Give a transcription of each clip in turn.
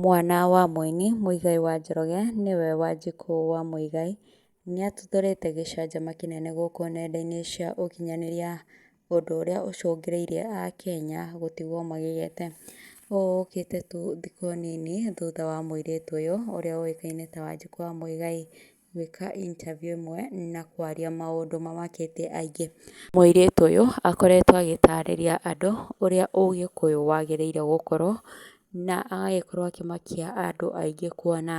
Mwana wa mũini Muigai wa Njoroge nĩwe Wanjikũ wa Muigai nĩatuthũrĩte gĩcanjama kĩnene gũkũ nenda-inĩ cia ũkinyanĩria ũndũ ũrĩa ũcũngĩrĩirie akenya gũtigwo magĩgĩte. Ũũ ũkĩte tu thikũ nini thutha wa mũirĩtu ũyũ ũrĩa ũĩkaine ta Wanjikũ wa Muigai gwĩka interview ĩmwe na kwaria maũndũ mamakĩtie aingĩ. Mũirĩtu ũyũ akoretwo agĩtarĩria andũ ũrĩa ũgĩkũyũ wagĩrĩire gũkorwo na agagĩkorwo akĩmakia andũ aingĩ kuona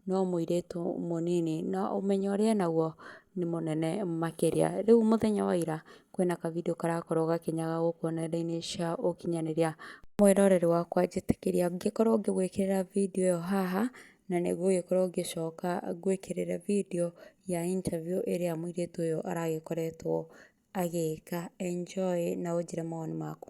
no mũirĩtu mũnini na ũmenyo ũrĩa enaguo nĩ mũnene makĩria. Rĩu mũthenya wa ira kwĩna ka video karakorwo gakĩnyaga gũkũ nenda-inĩ cia ũkinyanĩria. Mwĩroreri wakwa njĩtĩkĩria ngĩkorwo ngĩgwĩkĩrĩra video ĩyo haha na nĩ ngũgĩkorwo ngĩcoka ngwĩkĩrĩre video ya interview ĩrĩa mũirĩtu ũyũ aragĩkoretwo agĩka. Enjoy na ũnjĩre mawoni maku.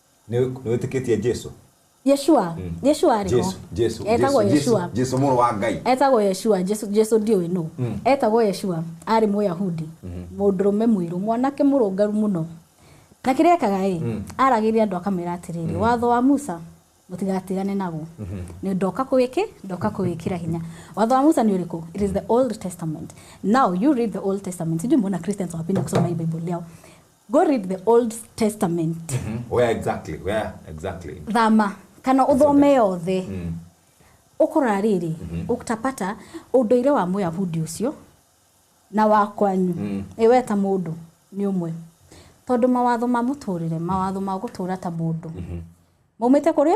Nĩ nĩ wĩtĩkĩtie Jesu? Yeshua Mm. Yeshua arĩ ho Jesu, Jesu, etagwo Jesu, Yeshua Jesu mũrũ wa Ngai. etagwo Yeshua Jesu Jesu ndiũĩ nũ Mm. etagwo Yeshua arĩ mũyahudi mũndũrũme mũirũ mwanake mũrũngaru mũno na kĩrĩa ekaga ĩ Mm. aragĩria andũ akamera atĩrĩrĩ watho wa Musa mũtigatigane naguo nĩ ndoka kũwĩkĩ ndoka kũwĩkĩra hinya watho wa Musa nĩ ũrĩkũ it is the old testament now you read the old testament sijui mbona Christians wapenda kusoma hii bible yao Go read the Old Testament. Mhm. Where exactly? Where exactly? Thama kana uthome yothe. Mm. Ukora riri, mhm. uktapata unduire wa Muyahudi ucio na wa kwanyu. Mm. Iwe ta mundu ni umwe. Tondu mawatho ma muturire, mawatho ma gutura ta mundu. Mhm. Maumite kuri?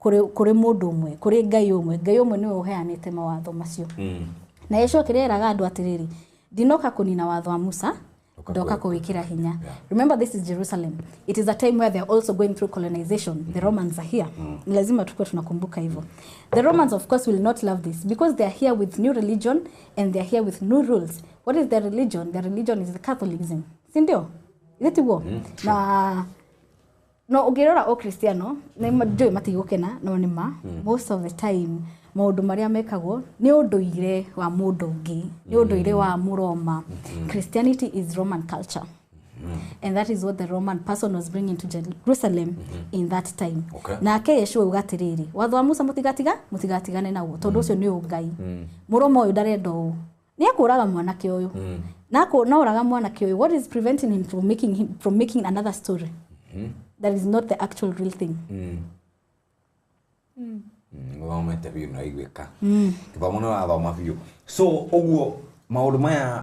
kũrĩ, kũrĩ mũndũ ũmwe, kũrĩ Ngai ũmwe. Ngai ũmwe nĩwe ũheanĩte mawatho macio. Mm. Na Yesu akĩrĩa eraga andũ atĩrĩrĩ, ndinoka kũnina watho wa Musa, Ndoka ndoka kũwĩkĩra." kũwĩkĩra hinya. Yeah. Remember this is Jerusalem. It is a time where they are also going through colonization. The Romans are here. Ni lazima tukuwe tunakumbuka hivyo. The Romans of course will not love this because they are here with new religion and they are here with new rules. What is their religion? Their religion is the Catholicism. Si ndio? Is it war? Na no ũngĩrora o Cristiano nĩ ma- njũĩ matigũkena no nĩ ma most of the time maũndũ marĩa mekagwo nĩ ũndũire wa mũndũ ũngĩ nĩ ũndũire wa mũroma Christianity is Roman culture and that is what the Roman person was bringing to Jerusalem in that time Okay. nake Yeshua uga atĩrĩrĩ watho wa Musa mũtigatiga mũtigatigane naguo tondũ ũcio nĩ ũngai mũrũma ũyũ ndarenda ũũ Nĩekũũraga mwanake ũyũ. Mm. Na akũũraga mwanake ũyũ. What is preventing him from making him from making another story? Mm. That is not the actual real thing. Mm. Mm. Thomete biũ na iguĩka. Mm. Gĩthomo nĩ wathoma biũ. So ũguo maũndũ maya